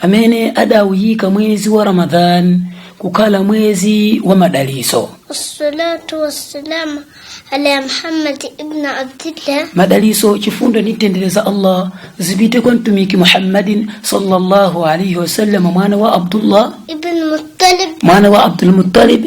amene adawuyika mwezi wa ramadhan kukhala mwezi wa madaliso wassalatu wassalamu ala muhammad ibn abdillah madaliso chifundo ndi mtendere za allah zipite kwa mtumiki muhammadin sallallahu alaihi wasallam mwana wa abdullah ibn muttalib mwana wa abdulmuttalib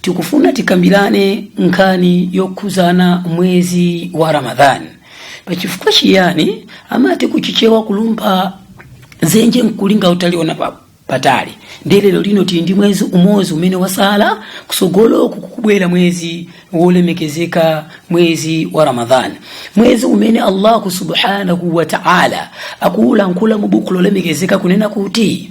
tikufuna tikambirane nkhani yokhuzana mwezi wa ramadhani pachifukwa chiyani amati kuchichewa kulumpha zenje nkulinga utaliona pa patali ndiye lero lino tili ndi mwezi umodzi umene wasala kusogolo kukubwera mwezi wolemekezeka mwezi wa ramadhani mwezi umene allahu subhanahu wa taala akuulankhula mu buku lolemekezeka kunena kuti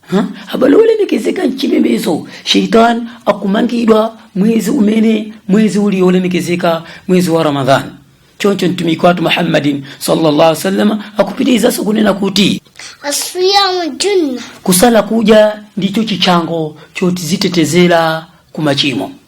Ha abale olemekezeka mchipembezo sheitan akumangidwa mwezi umene mwezi uli olemekezeka mwezi wa ramadhan choncho mtumiki wathu muhammadin sallallahu alaihi wasallam akupitirizaso kunena kuti asiyamu junna kusala kuja ndicho chishango chotizitetezera ku machimo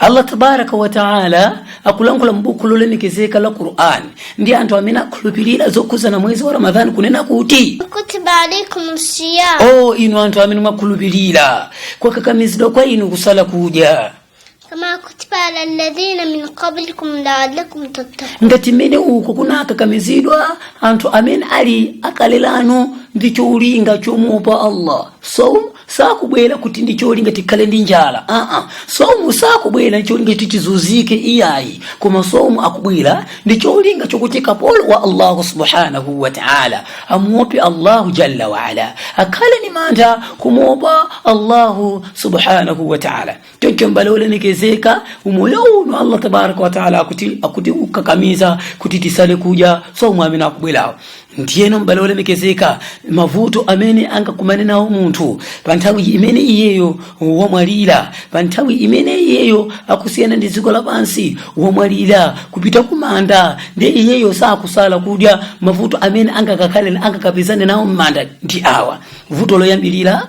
allah tabaraka wataala akulankhula m'buku lolemekezeka la qur'an ndi anthu amene akhulupirira zokhuzana mwezi wa ramadhani kunena kuti kutiba alaikum siyam o inu anthu amene mwakhulupirira kwakakamizidwa kwa inu kusala kudya kama kutiba ala alladhina min qablikum laalakum tattaqun ngati mmene uko kunakakamizidwa anthu amene ali akale anu ndi cholinga chomuopa allah so sakubwera kuti ndi cholinga tikhale ndi njala aa somu sakubwera ndi cholinga kuti tizunzike iyayi koma somu akubwera ndi cholinga chokuti kapolo wa allahu subhanahu wa taala amuope allahu jalla waala akhale ni mantha kumuopa allahu subhanahu wa taala choncho mbale olemekezeka umoyo uno allah tabaraka wataala akutikakamiza kuti tisale kudya somu amene akubwera ndiyeno mbale olemekezeka mavuto amene angakumane nawo munthu pa nthawi imene iyeyo wamwalira pa nthawi imene iyeyo akusiyana ndi dziko lapansi wamwalira kupita kumanda ndiye iyeyo sakusala kudya mavuto amene angakapezane nawo m'manda ndi awa vuto loyambirira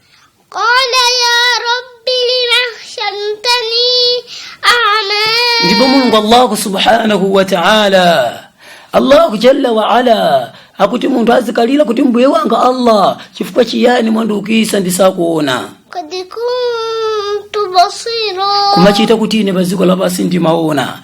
qala ya rabbi lima hashartani a'ma ndipo mulungu allahu subhanahu wa ta'ala allahu jalla wa ala akuti munthu azikalira kuti mbuye wanga allah chifukwa chiyani mwandiukisa ndisakuona qad kuntu basira kumachita kuti ine pa dziko lapansi ndimaona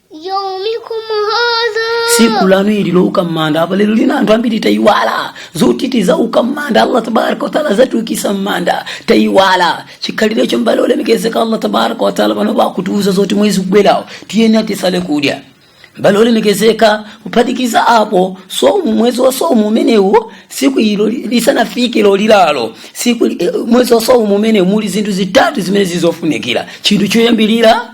يومكم هذا siku lanu ili louka mmanda apa lero lina anthu ambiri tayiwala zoti tizauka mmanda allah tabaraka wataala azatiukisa mmanda tayiwala chikhalirecho mbale olemekezeka allah tabaraka wataala panopa akutiuza zoti mwezi ukubwerawo tiyeni tisale kudya mbale olemekezeka kuphatikiza apo somu mwezi wa somu umenewu siku ilo lisanafike lolira lo siku eh, mwezi wa somu umenewu muli zinthu zitatu zimene zili zofunikira chinthu choyambirira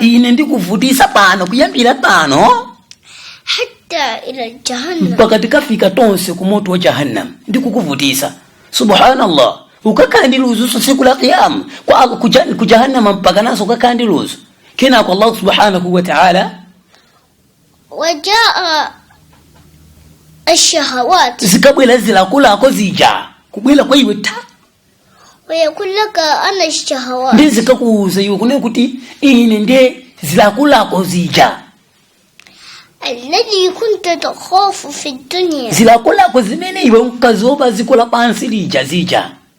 ine ndikuvutisa pano kuyambira pano mpaka tikafika tonse ku moto wa jahannam ndikukuvutisa subhanallah ukakhala ndi ludzuso tsiku la qiyama ku jahannama mpaka naso ukakhala ndi ludzu kenako allah subhanahu wataala wajaa ashshahawat zikabwera zilakolako zija kubwera kwa iwe ta wayaqulu laka ana shahawat ndi zikakuuza iwe kunena kuti ine nde zilakolako zija alladhi kunta takhafu fi dunya zilakolako zimene iwe unkaziopa ziko lapansi lija zija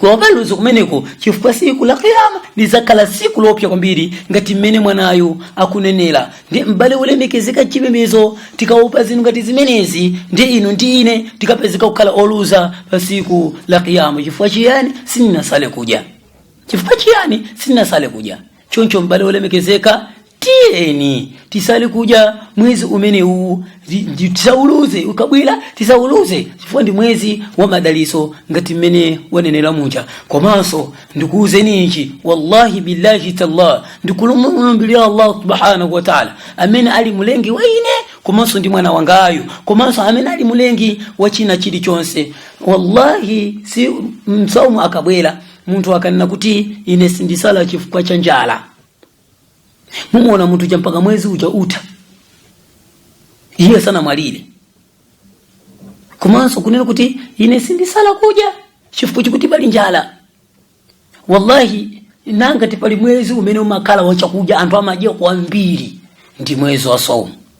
kuwapalutsa kumeneko chifukwa tsiku la kiyama lidzakhala tsiku lopsa kwambiri ngati mmene mwanayu akunenera ndi m'bale wolemekezeka chipembedzo tikaopa zinthu ngati zimenezi ndi inu ndi ine tikapezeka kukhala oluza pa tsiku la kiyama chifukwa chiyani sitinasale kudya chifukwa chiyani sitinasale kudya choncho m'bale olemekezeka tiyeni tisale kudya mwezi umene uwu ndi- ndi- tisauluze ukabwera tisauluze chifukwa ndi mwezi wa madalitso ngati mmene wanenera muja komanso ndikuwuzeni ichi wallahi billahi tallah ndikumulumbirira allah subhanahu wa taala amene ali mulengi wa ine komanso ndi mwana wangayu komanso amene ali mulengi wa china chilichonse wallahi saumu akabwera munthu akanena kuti ine sindisala chifukwa cha njala mumuona munthu uja mpaka mwezi uja utha iye sanamwalire komanso kunena kuti ine sindisala kudya chifukwa chakuti pali njala wallahi ngati pali mwezi umene umakhala wachakudya anthu amadya kwambiri ndi mwezi wa saumu